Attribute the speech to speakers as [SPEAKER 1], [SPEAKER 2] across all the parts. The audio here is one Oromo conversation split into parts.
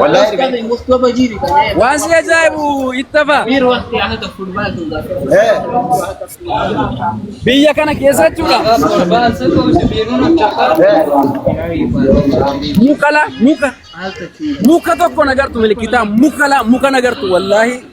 [SPEAKER 1] Wallahi erga Waan si ajaa'ibu ittafa. eh Biyya kana keessa jechuudha. eh Muka la muka. Muka tokko nagartu milikitaa muka la muka nagartu wallaahi.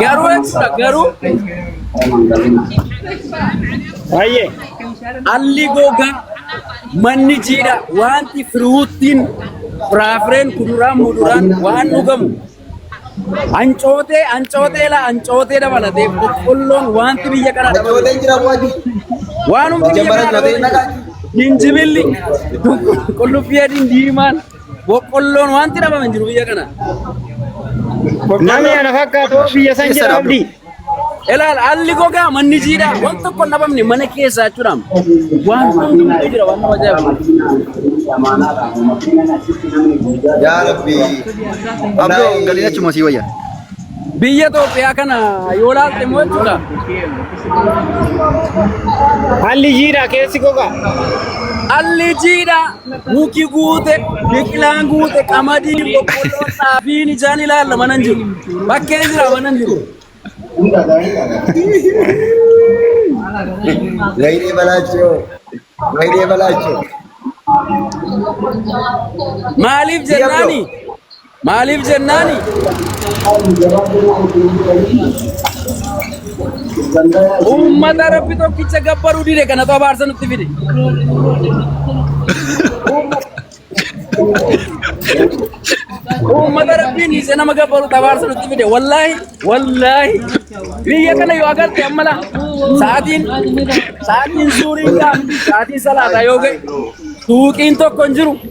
[SPEAKER 1] Garuu jechuudha garuu
[SPEAKER 2] Baay'ee.
[SPEAKER 1] alli gogaa manni jiidha wanti firuuttiin firaafireen kuduraan muduraan waan dhugamu ancootee ancootee la ancootee dabalatee boqqolloon wanti biyya kana dabalatu Ancootee jira waati. waan hundi biyya Jabara kana dabalatu jabeenna qabu. jinjibilli qullubbii adiin diimaan Boqqolloon wanti dhabame hin jiru biyya kana. Namni
[SPEAKER 2] ana fakkaatu biyya san jira abdii. Ilaal
[SPEAKER 1] haalli gogaa manni jiidhaa waan tokko hin dhabamne mana keessaa jechuudha. Waan hundi hundi jira waan nama ajaa'ibu.
[SPEAKER 3] Yaa Rabbi. Abdoo
[SPEAKER 4] galiin achuma sii wayya. Biyya
[SPEAKER 1] Itoophiyaa kana yoo laalte immoo jechuudha.
[SPEAKER 2] Haalli jiidhaa keessi goga. Haalli
[SPEAKER 1] jiidhaa muki guute, biqilaan guute, qamadiin, boqqolloon, xaafiin ijaan ilaalla mana hin jiru. Bakkee jira mana hin jiru.
[SPEAKER 3] Wayinee balaachoo. Wayinee balaachoo. Maaliif
[SPEAKER 1] jennaani? Maaliif jennaani? Uummata Rabbi tokkicha gabbaruu dide kanatu abaarsa nutti fide. Uummata Rabbiin dhiise nama gabbaruu abaarsa nutti fide. Wallaahi, wallaahi. Biyya kana yoo agarte amma laa sa'aatiin sa'aatiin suuriin gaafti sa'aatiin salaataa yoo ga'e suuqiin tokko hin jiru.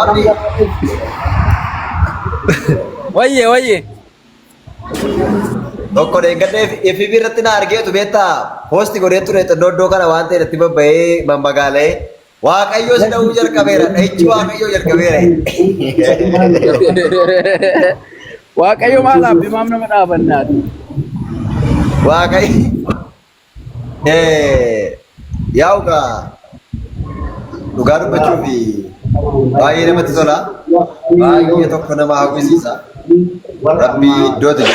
[SPEAKER 3] Abdi.
[SPEAKER 1] Wayye wayye.
[SPEAKER 3] Tokko deeggartee FB irratti na argeetu beektaa poosti godhee ture xinnoo iddoo kana waan ta'e irratti babba'ee mammagaalee waaqayyoo si dha'uu jalqabeera dha'ichi waaqayyoo jalqabeera.
[SPEAKER 1] Waaqayyo maal abbi maam nama dhaabannaati. Waaqayyo
[SPEAKER 3] Yaa'u gaa dhugaa dubbachuu fi baay'ee namatti tola. Baay'ee tokko nama hawwisiisa. Rabbii iddoo ta'e.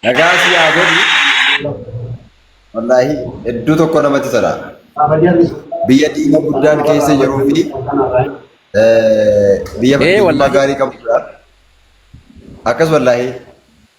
[SPEAKER 3] Nagaa si haa godhu. Wallaahi hedduu tokko namatti tola. Biyya diina guddaan keessa jiruu fi biyya fakkeenyummaa gaarii qabudha. Akkas wallaahi.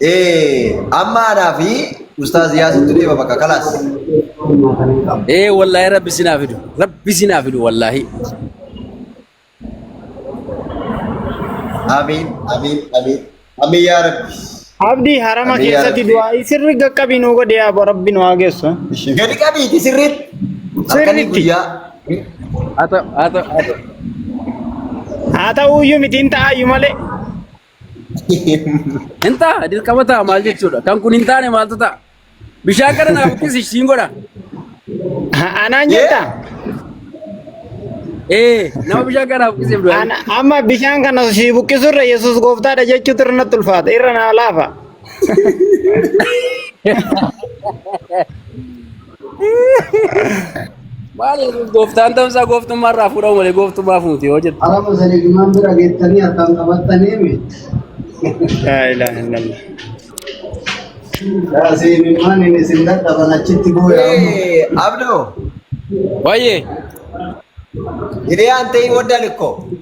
[SPEAKER 3] Ee amma anaa fi ustaaz Yaasiintu deema bakka kalaas. Ee
[SPEAKER 1] wallaahi rabbi sinaa fidu. Rabbi sinaa fidu wallaahi.
[SPEAKER 3] Amiin amiin amiin amiin yaa rabbi. Abdi harama Amiin
[SPEAKER 2] yaa keessatti rabbi. du'aa sirri gaqqabii nu godhe yaa bo rabbi nu haa geessu. Gadi qabiiti
[SPEAKER 3] sirriitti. Halkanii Sirriitti. guyyaa. Haa ta'u haa ta'u haa
[SPEAKER 2] ta'u. Haa ta'uyyuu mitiin ta'aayyu malee.
[SPEAKER 1] Hin ta'a dirqama ta'a maal jechuudha? Kan kun hin taane maaltu ta'a? Bishaan kana naaf uffisi siin godha.
[SPEAKER 2] Anaan jettaa?
[SPEAKER 1] Ee nama bishaan kana naaf uffisiif du'a. Ana- Amma bishaan kana
[SPEAKER 2] si buqqisurra Yesuus gooftaadha jechuutu irra natti ulfaata. Irra naa laafa.
[SPEAKER 1] Maal gooftaan ta'umsaa gooftummaa irraa fuudhamu malee gooftummaa fuuti yoo jettu. Ara musanii jumaan bira
[SPEAKER 5] geettanii harkaan qabattanii mi?
[SPEAKER 2] Laa ilaaha illallah. Yaa
[SPEAKER 5] seemimmaan inni isin dadhaban achitti booya amma. Eh, Abdo,
[SPEAKER 1] Wayyee.
[SPEAKER 3] ini yang tadi modal kok.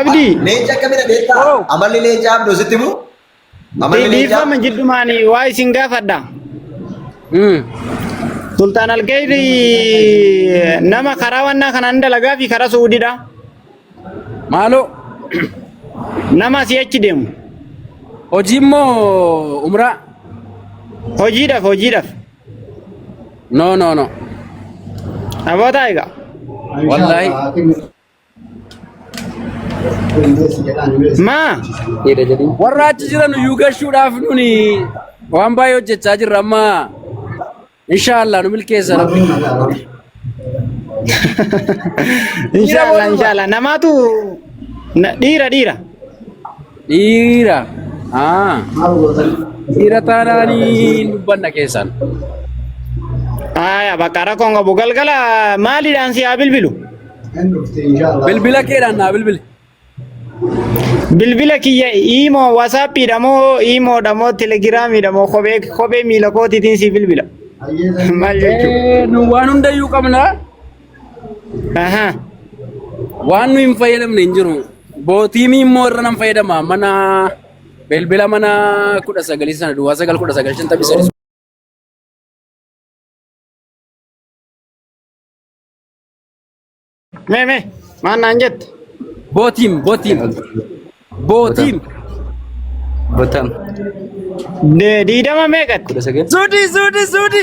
[SPEAKER 2] Abdii. Leenca akkamidha
[SPEAKER 3] beektaa? Oo. Amalli leenca abduu sitti mu? Amalli leenca Dhiifama jiddumaan
[SPEAKER 2] waa isin gaafadha. Mm. Sultaan Alkayri nama karaa wannaa kanaan dalagaa fi karaa Suudiidha.
[SPEAKER 1] Maaloo
[SPEAKER 2] Nama asii achi deemu. hojii
[SPEAKER 1] immoo umraa Hojiidhaaf
[SPEAKER 2] hojiidhaaf.
[SPEAKER 1] No no no.
[SPEAKER 2] Abootaa egaa. Wallahi. Maa? Warra
[SPEAKER 1] achi jiran iyyuu gashuudhaaf nuni waan baay'ee hojjechaa jirra amma. Inshaallah nu milkeessa rabbi.
[SPEAKER 2] Inshaallah inshaallah namaatu na- dhiira dhiira.
[SPEAKER 1] Dhiira. Haa. Dhiira taanaan hin dubbanna keessan.
[SPEAKER 2] Aya bakka rakkoon qabu galgala maaliidhaan si haa bilbilu?
[SPEAKER 1] Bilbila keedhaan naa bilbili. Bilbila
[SPEAKER 2] kiyya iimoo wasaappiidha moo iimoodha moo telegiraamiidha moo kophee kophee miila kootiitiin si bilbila. Maal jechuudha? Eh, Nu waan hundayyuu
[SPEAKER 1] qabna. Aha. Waan nu hin fayyadamne hin jiru. Bootiimii immoo irra nan fayyadama. Mana bilbila mana kudha sagalii sana duwwaa sagal kudha sagal shantamii sadii.
[SPEAKER 2] Mee mee maal naan jette? Bootiim
[SPEAKER 1] bootiim bootiim.
[SPEAKER 2] Botam. Diidama meeqatti? Kudha sagal. Suudi suudi
[SPEAKER 1] suudi.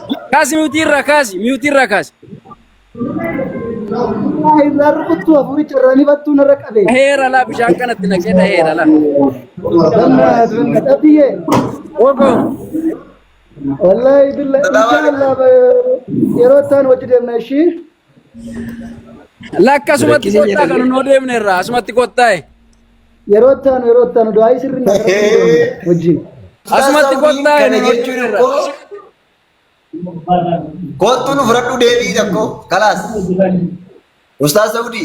[SPEAKER 1] Kaasi miyuutii irraa kaasi miyuutii irraa kaasi. Irraa rukuttuu afuuricha irraa ni battuu narra qabee. Heera laa bishaan kanatti naqee dhaheera laa. Dhabiyyee. Wogoo.
[SPEAKER 5] Wallaahi billa Bye-bye. inshaallah yeroo ittaan wajji deemna ishii.
[SPEAKER 1] Lakka asumatti Rakkisee kottaa jedhanii. kan noo deemne irraa asumatti kottaa'e. Yeroo itti aanu
[SPEAKER 5] yeroo itti aanu du'aa sirri na gara wajjin. Asumatti
[SPEAKER 1] kottaa'e nu hojjuu irra.
[SPEAKER 3] Kottu nu fudhadhu deebii tokko kalaas. Ustaaz Saudi.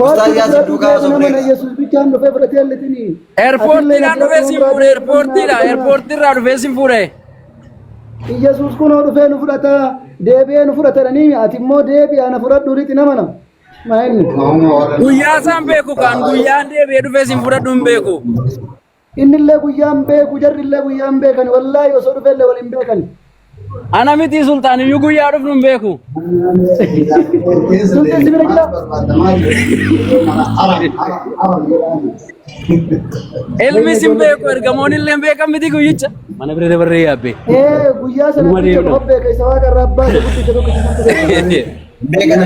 [SPEAKER 3] Ustaaz Yaasin duukaa osoo Nama na buleera. Yesuus bichaan
[SPEAKER 5] dhufee fudhatee illitinii. Eerpoortiidhaan
[SPEAKER 1] dhufee sin fuudhe eerpoortiidha eerpoortiirraa dhufee sin fuudhe.
[SPEAKER 5] Iyyasuus kunoo dhufee nu fudhata, deebi'ee nu fudhata jedhanii ati immoo deebi'aa na fudhadhu jedhiiti nama nama. Maa inni? Guyyaa
[SPEAKER 1] isaan beeku kan guyyaan deebi'ee dhufee isin fudhadhu hin beeku. Innillee
[SPEAKER 5] guyyaan beeku, jarrillee guyyaan beekan, wallaahi osoo dhufeellee waliin beekan. Ana miti
[SPEAKER 1] sultaan iyyuu guyyaa dhufnu hin beeku. Sultan
[SPEAKER 5] sibira jira?
[SPEAKER 1] Ilmis hin beeku ergamoon illee hin beekan miti guyyicha. Mana bira dabarree yaabbee. Ee guyyaa sana Dhuma
[SPEAKER 5] deemna. qofa beeka isa waaqa irraa abbaa isa guddicha tokko isa tokko beekana.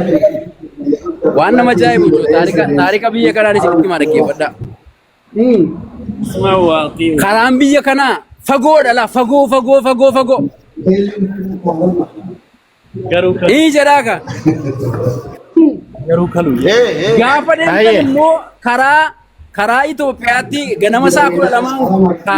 [SPEAKER 1] Waan nama ajaa'ibu jiru taarika taarika biyya kanaan isinitti himaa dhaggeeffadhaa. Hmm. Karaan biyya kanaa fagoodha laa fagoo fagoo fagoo fagoo. Garuu kan Ii jedhaa ka. garuu kalu. Gaafa deemtan Baay'ee. immoo karaa karaa Itoophiyaatti ganama isaa kudha lamaan kaata.